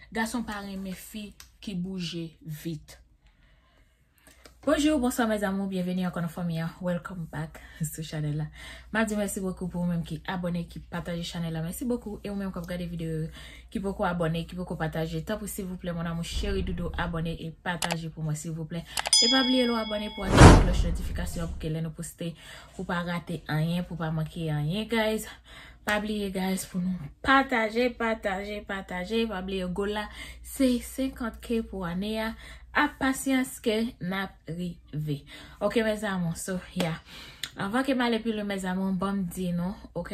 Gason pa renmen fi ki bouje vit. Bonjour bonsoir mes amours bienvenue ankò nan fanmi an welcome back sou chanel la ma di merci beaucoup pou ou menm ki abonné ki pataje chanel la merci beaucoup e ou menm kap gade video yo ki poko abonné ki poko pataje tanpri silvouplè mon amour cheri doudou abonné e pataje pou mwen silvouplè e pa bliye lè w abonné pou aktive cloche notification pou ke lè nou poste ou pa rate anyen pou pa manke anyen guys Pa bliye guys pou nou pataje pataje pataje pa bliye goal la se 50 k pou ane a ak pasyans ke nap rive ok mes amour so yeah anvan kem ale pi lwen mes amour banm di nou ok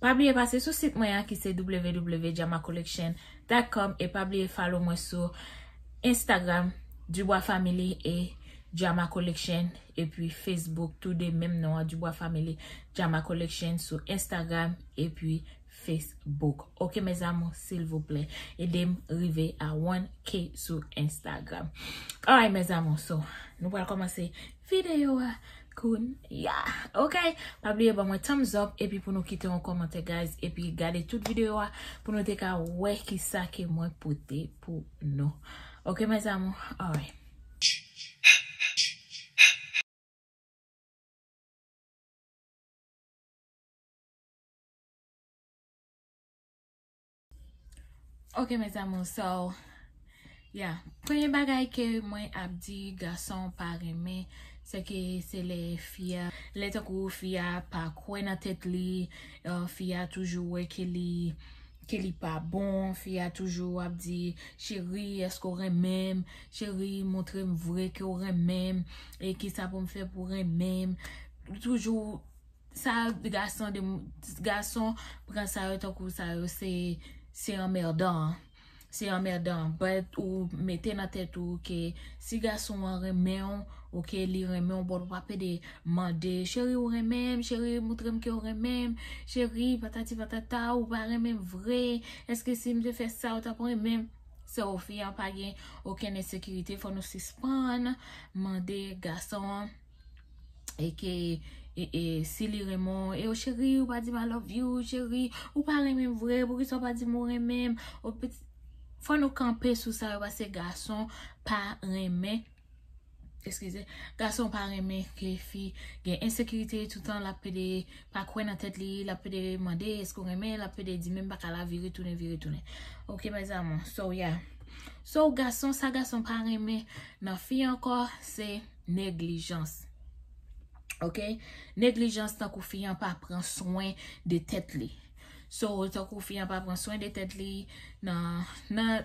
pa bliye pase sou sit mwen an ki se www.jamacollection.com e pa bliye follow mwen sou Instagram Dubois family e Jama collection. epi Facebook tou 2 menm non an Dubois Family Jama Collection sou Instagram epi Facebook ok mes amours silvouplè edem rive a 1k sou Instagram alright mes amours so nou pral kòmanse videyo a kounya ok pa bliye ban mwen thumbs up epi pou nou kite yon kòmantè guys epi gade tout videyo a pou nou te ka wè kisa ke mwen pote pou nou ok mes amours alright. Ok mes amour so Ya premye bagay ke mwen ap di gason pa renmen Se ke se le fi ya Le tankou fi ya pa kwe nan tet li Fi ya toujou we ke li Ke li pa bon, fi a toujou ap di, cheri eske w renmen m, cheri montre m vre ke w renmen m, e kisa pou m fè pou w renmen m, toujou sa gason de, gason pran sa yo tankou sa yo se, se anmèdan, se anmèdan, but ou mete nan tèt ou ke si gason an renmen w. Ok li renmenw bon wap ede mande cheri ou renmenm cheri moutrem kew renmenm cheri patati patata ou pa renmenm vre eske sim te fè sa ou tap renmenm sè ou fi an pa gen okenn ensekirite fò nou sispann mande gason an eke e si li renmen w eyo cheri ou pa dim I love you cheri ou pa renmenm vre poukisa ou pa dim ou renmenm fò nou kanpe sou sa yo pase gason pa renmen Eskize. Gason pa renmen ke fi gen ensekirite toutan lap pede pa kwè nan tèt li, lap pede mande eske ou renmen, lap pede di menm baka la vire tounen vire tounen. Ok mes amours. So yeah. So gason sa gason pa renmen nan fi ankò se neglijans. Ok. Neglijans tankou fi an pa pran swen de tèt li. So tankou fi an pa pran swen de tèt li nan nan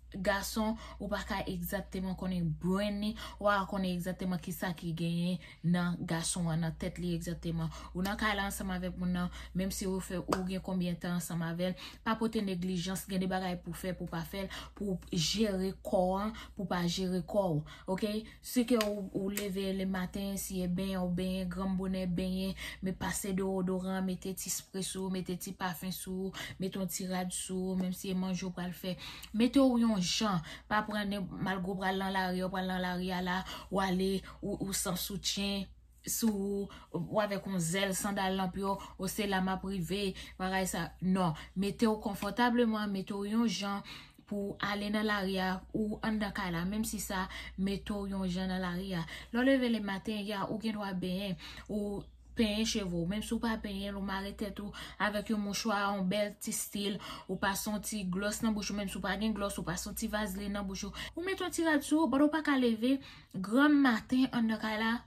gason ou pa ka egzakteman konnen brain li, ou pa ka konnen egzakteman ki sa ki genyen nan gason an, nan tèt li egzakteman. Ou nan kay la ansanm avèk moun nan, menm si ou fè, ou gen konbyen tan ansanm avè l, pa pote neglijans, gen de bagay pou fè, pou pa fè l, pou jere kò an, pou pa jere kò ou. Ok, Si ke ou leve le maten, si e benyen ou benyen, granm bonè benyen, men pase dewodoran, mete ti spre sou ou, mete ti pafen sou ou, mete yon ti rad sou ou, menm si e manje ou pral fè, mete ou yon jan, pa pran nenp, malgre ou pral nan lari, ou pral nan lari a la, ou ale, ou san soutyen, sou ou, ou avèk yon zèl sandal lanp yo, o se la map rive, bagay sa, non, mete ou konfòtableman, mete ou yon jan pou ou ale nan lari a, ou anndan kay la, menm si sa mete ou yon jan nan lari a, lè w leve le maten, ya ou gen dwa benyen, ou penyen cheve w, menm si w pa penyen l, ou mare tèt ou avèk yon mouchwa, yon bèl ti stil, ou pase yon ti glòs nan bouch ou, menm si w pa gen glòs, ou pase yon ti vazlin nan bouch ou, ou mete yon ti rad sou ou, but ou pa ka leve. Granm maten an nan kay la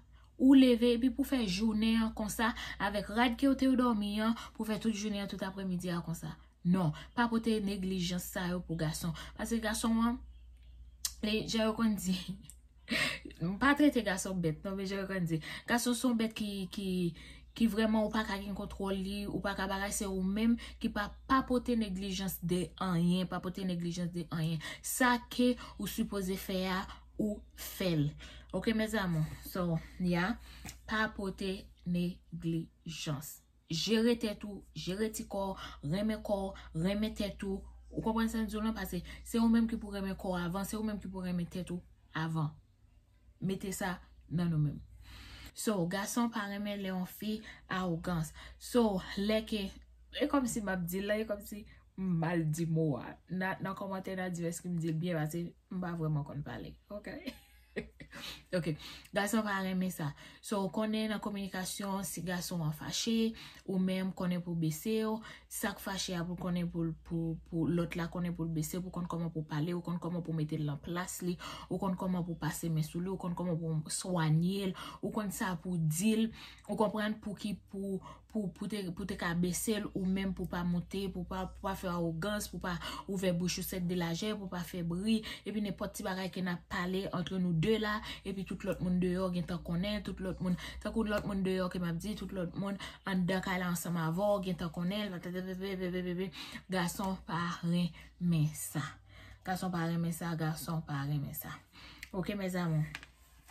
ou leve epi pou fè jounen an konsa avèk rad kew tew dòmi an pou fè tout jounen an tout apremidi a konsa non pa pote neglijans sa yo pou gason paske gason an li jan yo konn di m pa trete gason bèt non men jan yo konn di gason son bèt ki ki ki vrèman ou pa ka gen kontwòl li ou pa ka bagay se ou menm ki pa pa pote neglijans de anyen pa pote neglijans de anyen sa ke ou sipoze fè a ou fel ok mes amour so ya pa pote neglijans jere tet ou jere ti kò renmen kò renmen tet ou ou konprann sam diw lan pase se ou menm ki pou renmen kò avan se ou menm ki pou renmen tet ou avan mete sa nan nou menm so gason pa renmen le yon fi arogans so le ke e komsi map dil la e komsi mal di mo a nan komante nan di eske mdil byen pase. M pa vreman konn pale ok ok gason pa renmen sa so ou konnen nan kominikasyon si gason an fache ou menm konnen pou bese w sak fache a pou konnen pou lot la konnen pou l bese w pou konn koman pou pale ou konn koman pou mete l nan plas li ou konn koman pou pase men sou li ou konn koman pou swanye l ou konn sa pou di l ou konprann pou ki pou pou te ka bese l ou menm pou pa moute, pou pa fè awogans, pou pa ouvè bouch ou sèt de lajè, pou pa fè bri, epi nenpòt ti bagay ke nap pale antre nou de la, epi tout lòt moun deyò gen tan konnen, tout lòt moun, tankou lòt moun deyò ke map di, tout lòt moun anndan kay la ansanm avè w gen tan konnen, patatatatatatatata, gason pa renmen sa, gason pa renmen sa, gason pa renmen sa, ok mes amour.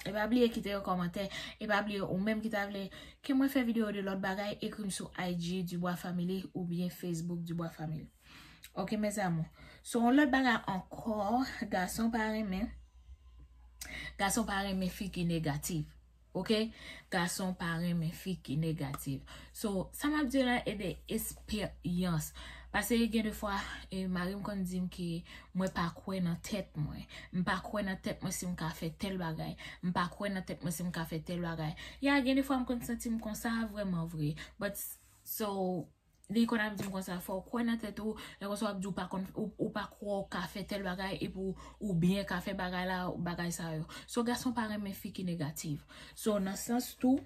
E pa bliye kite yon kòmantè. E pa bliye ou menm ki ta vle ke mwen fè video de lòt bagay ekri m sou IG Dubois Family oubyen Facebook Dubois Family. Ok mes amour. So yon lòt bagay ankò gason pa renmen gason pa renmen fi ki negatif. Ok gason pa renmen fi ki negatif. So, sa m ap di yo la e de esperyans. Pase gen de fwa, mari m konn di m ke mwen pa kwè nan tèt mwen. M pa kwè nan tèt mwen si m ka fè tèl bagay. M pa kwè nan tèt mwen si m ka fè tèl bagay. Ya, gen de fwa m konn santi m konsa vrèman vre. But, so, li konn ap di m konsa, fò w kwè nan tèt ou, lè konsa w ap di ou pa konn, ou pa kwè w ka fè tèl bagay epi w ou byen ka fè bagay la, bagay sa yo. So, gason pa renmen fi ki negativ. So, nan sans tou.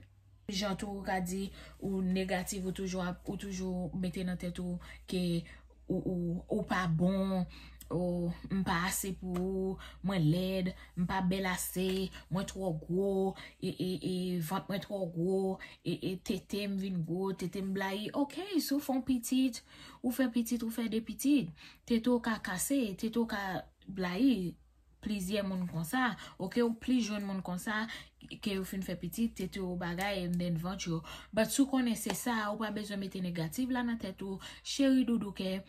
jan tou ou ka di ou negatif ou toujou ap ou toujou mete nan tèt ou ke ou pa bon ou m pa ase pou ou mwen lèd m pa bèl ase mwen twò gwo e vant mwen twò gwo e tete m vin gwo tete m blayi ok si w fè yon pitit ou fè pitit ou fè 2 pitit tete w ka kase tete w ka blayi plizyè moun konsa ok ou plis jwenn moun konsa ke yo fin fè pitit tete yo bagay and then vant yo but si w konnen se sa ou pa bezwen mete negative la nan tèt ou cheri doudou kè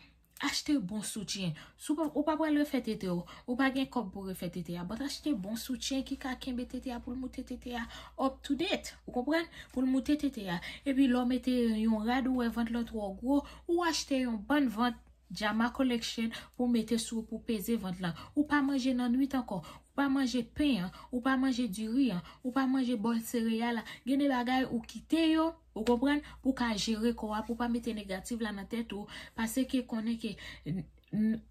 achte bon soutyen si ou pa pral refè tete w ou pa gen kòb pou refè tete a but achte bon soutyen ki ka kenbe tete a pou l moute tete a up to date ou konprann pou l moute tete a epi lè w mete yon rad ou wè vant lan twò gwo ou achte yon bann vant Jama collection pou mete sou pou peze vant lan ou pa manje nan nwit ankò ou pa manje pen an ou pa manje diri an ou pa manje bòl sereyal la gen de bagay ou kite yo ou konprann pou ka jere kò a pou pa mete negativ la nan tèt ou pase ke konnen ke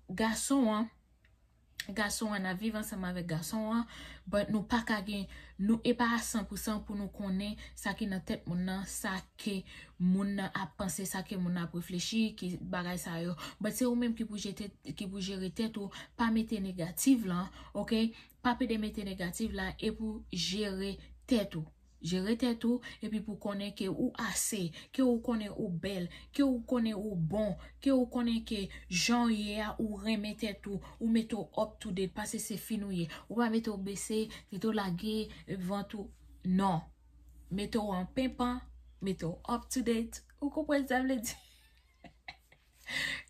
gason an gason an ap viv ansanm avèk gason an but nou paka gen nou epa a san pou san pou nou konnen sa ki nan tèt moun nan sa ke moun nan ap panse sa ke moun nan ap reflechi ki bagay sa yo but se ou menm ki pou jete ki pou jere tèt ou pa mete negative lan ok pa pede mete negative la epou jere tèt ou. Jere tèt ou epi pou konnen ke ou ase, ke ou konnen ou bèl, ke ou konnen ou bon, ke ou konnen ke jan ou ye a ou renmen tèt ou, ou mete w up to date pase se fin ou ye, ou pa mete w bese, tete w lage, vant ou, non. Mete w an penpan, mete w up to date, ou konprann sa m vle di?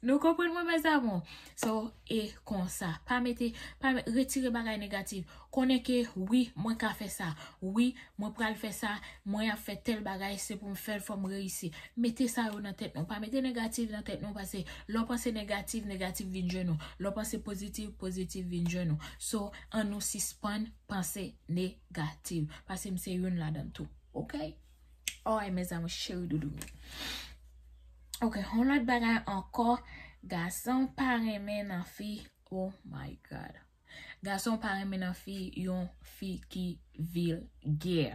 Nou konprann mwen mes amour. So e konsa. Pa mete pa mete retire bagay negatif. Konnen ke wi mwen ka fè sa. Wi mwen pral fè sa. Mwen ap fè tèl bagay se pou m fè l fò m reyisi. Mete sa yo nan tèt nou. Pa mete negatif nan tèt nou pase lè w panse negatif negatif vin jwenn ou. Lè w panse pozitif pozitif vin jwenn ou. So an nou sispann panse negatif. Pase m se youn ladan l tou. Ok. Oy mes amour cheri doudou m. Ok yon lot bagay anko gason pa renmen nan fi oh my god. Gason pa renmen nan fi yon fi ki vilgè.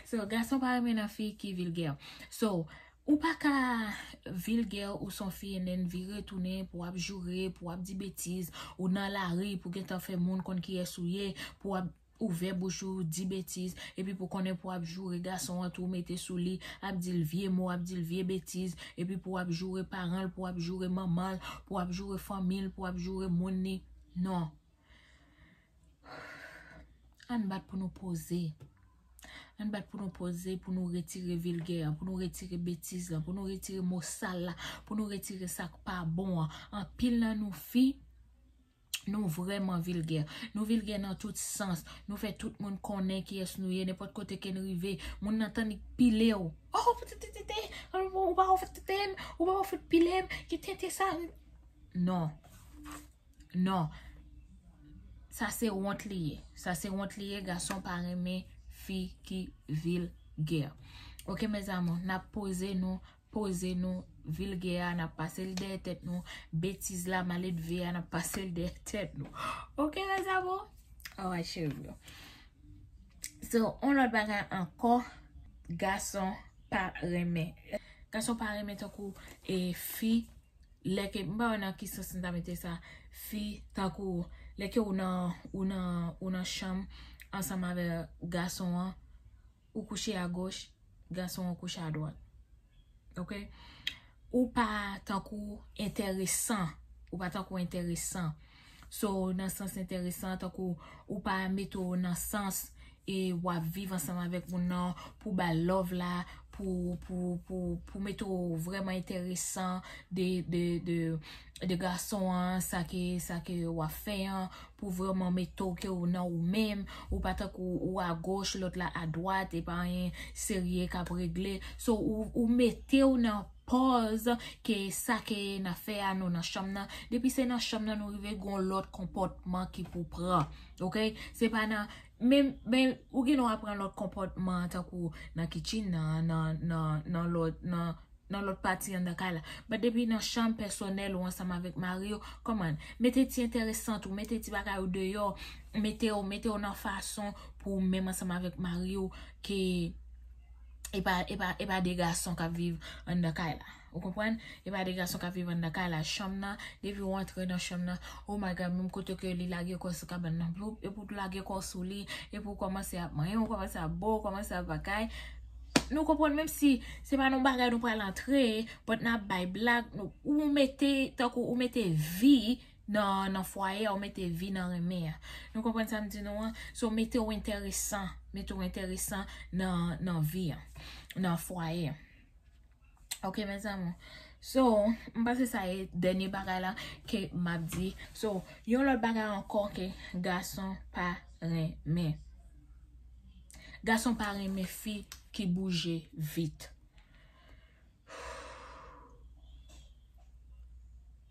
So gason pa renmen nan fi ki vilgè. So ou pa ka vilgè ou son fi en en vire tounen pou ap joure pou ap di betiz ou nan lari pou gentan fe moun konn kiyes ou ye pou ap. ouvè bouch ou di betiz epi pou konnen pou ap joure gason an tou mete sou li ap dil vye mo ap dil vye betiz epi pou ap joure paranl pou ap joure manmanl pou ap joure fanmil pou ap joure moun li non ann bat pou nou poze ann bat pou nou poze pou nou retire vilgè an pou nou retire betiz lan pou nou retire mo sal la pou nou retire sak pa bon an anpil nan nou fi Nou vrèman vilgè. Nou vilgè nan tout sans. Nou fè tout moun konnen kiyès nou ye. Nenpòt kote ke n rive, moun nan tann li pile w. O! Ou te te te te! Ou pa wè w fèk te te m? Ou pa wè w fèk pile m? Ki tenten sa? Non. Non. Sa se wont li ye. Sa se wont li ye. Gason pa renmen fi ki vilgè. Ok, mèzamou, n ap poze nou. Poze nou, vilgè a, n ap pase l dèyè tèt nou. Betiz la, maledve a, n ap pase l dèyè tèt nou. Ok mes amour? Alright cheri yo. So, yon lòt bagay ankò, gason pa renmen. Gason pa renmen tankou e fi lè ke, m pa wè nan ki sans m ta mete sa. Fi tankou lè ke ou nan, ou nan, ou nan chanm ansanm avè gason an. ou kouche a goch gason an kouche a dwat ok ou pa tankou enteresan ou pa tankou enteresan so nan sans enteresan tankou ou pa mete w nan sans e wap viv ansanm avèk moun nan pou bal love la pou mete w vreman enteresan de de gason an sa ke sa ke wap fè an pou vreman mete ou ke ou nan ou menm ou pa tankou ou a goch lòt la a dwat e pa anyen serye kap regle so ou mete ou nan pòz ke sa ke nan fè a nou nan chanm nan depi se nan chanm nan nou rive gon lòt konpòtman ki pou pran ok se pa nan menm menm ou gen dwa pran lòt konpòtman tankou nan kitchen nan nan nan nan lòt nan. nan lòt pati anndan kay la. But depi nan chanm pèsonèl ou ansanm avèk mari w, come on, mete ti enteresant ou, mete ti bagay ou deyò, mete w, mete w nan fason pou ou menm ansanm avèk mari w ke e pa, e pa, e pa 2 gason k ap viv anndan kay la. Ou konprann? E pa 2 gason k ap viv anndan kay la. Chanm nan, depi ou antre nan chanm nan, oh my God, menm kote ke li lage kò l sou kabann nan, bloup, epi w tou lage kò w sou li, epi w kòmanse ap manyen, w kòmanse ap bo, w kòmanse ap bagay. Nou konprann menm si se pa nan yon bagay nou pral antre but nap bay blag ou mete tankou ou mete vi nan fwaye ou mete vi nan renmen an nou konprann sam di nou an so mete ou enteresan mete ou enteresan nan vi an nan fwaye an. Ok mes amour. So, m panse sa e dènye bagay la ke m ap di. So, yon lòt bagay ankò ke gason pa renmen. Gason pa renmen fi ki bouje vit.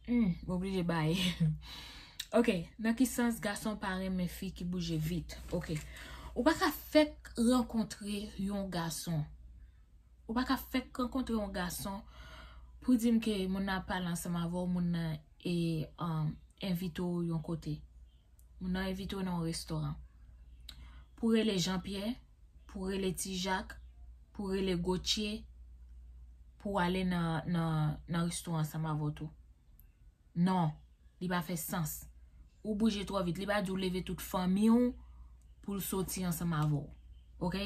Humm, m oblije baye. Ok, nan ki sans gason pa renmen fi ki bouje vit? Ok, ou pa ka fèk rankontre yon gason. Ou pa ka fèk rankontre yon gason pou di m ke moun nan ap pale ansanm avè w, moun nan e envite w yon kote. Moun nan envite w nan yon restoran. Pou rele Jean Pierre, pou rele Ti Jacques, pou rele Gauthier pou ale nan restoran ansanm avè w tou. Non, li pa fè sans. Ou bouje twò vit. Li pa di ou leve tout fanmi ou pou l soti ansanm avè w. Ok?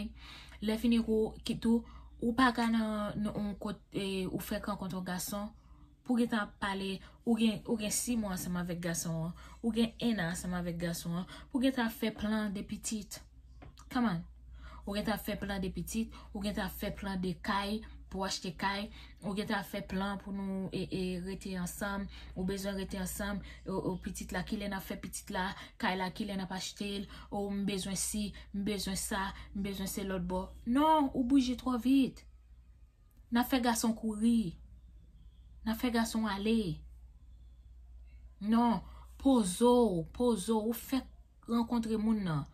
Lèfini kou ki tou, ou pa ka nan yon kot e ou fèk rankontre yon gason, pou gen tan ap pale, ou gen si mwa ansanm avèk gason an, ou gen ennan ansanm avèk gason an, pou gen tan ap fè plan de pitit. Come on! Ou gen tan ap fè plan de pitit, ou gen tan ap fè plan de kay, pou achte kay, ou gen tan ap fè plan pou nou e rete ansanm, ou bezwen rete ansanm, o pitit la kilè nap fè pitit la, kay la kilè nap achte l, o m bezwen si, m bezwen sa, m bezwen se lòt bò. Non, ou bouje twò vit. Nap fè gason kouri. Nap fè gason ale. Non, poze w, poze w, ou fè. rankontre moun nan.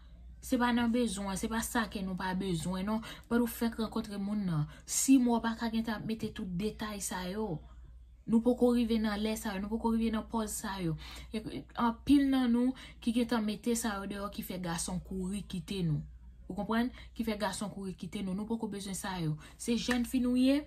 Se pa nan bezwen, se pa sa ke nou pa bezwen non. But ou fèk rankontre moun nan. Si mwa ou pa ka gentan ap mete tout detay sa yo. Nou poko rive nan lè sa yo, nou poko rive nan pòz sa yo. Anpil nan nou ki gentan mete sa yo deyò ki fè gason kouri kite nou. Ou konprann? Ki fè gason kouri kite nou. Nou poko bezwen sa yo. Se jèn fi nou ye,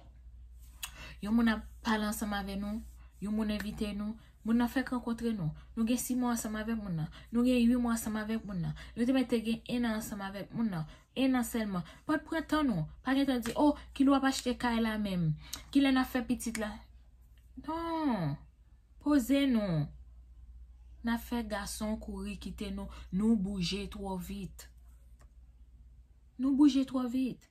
yon moun ap pale ansanm avè nou, yon moun envite nou. Moun nan fèk rankontre nou. Nou gen si mwa ansanm avèk moun nan. Nou gen ui mwa ansanm avèk moun nan. Nou te mète gen enan ansanm avèk moun nan. Enan sèlman. Pot pran tan nou. Pa gen tan di, oh, kilè w ap achte kay la menm? Kilè n ap fè pitit la? Non! Poze nou. N ap fè gason kouri kite nou. Nou bouje twò vit. Nou bouje twò vit.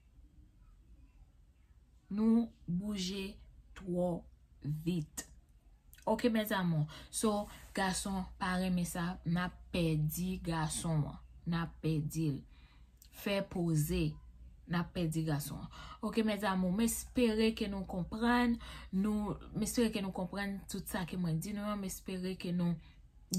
Nou bouje twò vit. Ok mes amours. So gason pa renmen sa nap pèdi gason an. Nap pèdi l. Fè poze. Nap pèdi gason an. Ok mes amours. M espere ke nou konprann. M espere ke nou konprann tout sa ke mwen di nou an. M espere ke nou.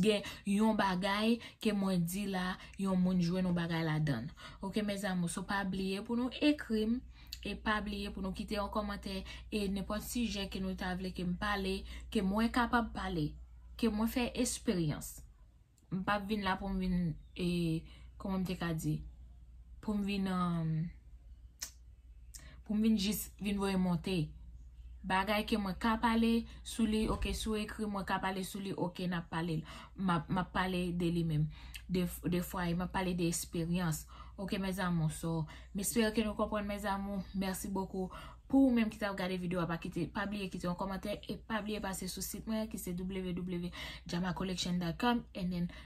gen yon bagay ke mwen di la yon moun jwenn yon bagay ladann ok mes amour so pa bliye pou nou ekrim e pa bliye pou nou kite yon kòmantè e nenpòt sijè ke nou ta vle kem pale ke mwen kapab pale ke mwen fè esperyans m pap vin la poum vin e kòman m te ka di poum vin an. pou m vin jis vin voye monte bagay ke mwen ka pale sou li ok sou ekri mwen ka pale sou li ok nap pale l map pale de li menm de fwa e map pale de esperyans ok mes amour so m espere ke nou konprann mes amour merci beaucoup pou ou menm ki tap gade video a pa kite pa bliye kite yon komante e pa bliye pase sou sit mwen ki se www.jamacollection.com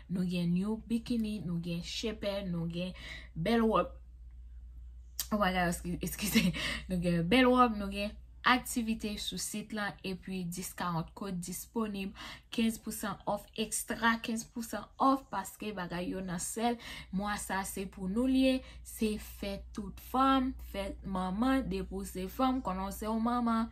nou gen new bikini nou gen chepè nou gen bel wòp Oh my god, eskize. Nou gen yon bèl wòb, nou gen aktivite sou sit lan, epi 10 40 kod disponib, 15 pousan off ekstra, 15 pousan off paske bagay yo nan sèl. Mwa sa se pou nou li ye, se fèt tout fanm, fèt manman, depi w se fanm konnen w se yon manman.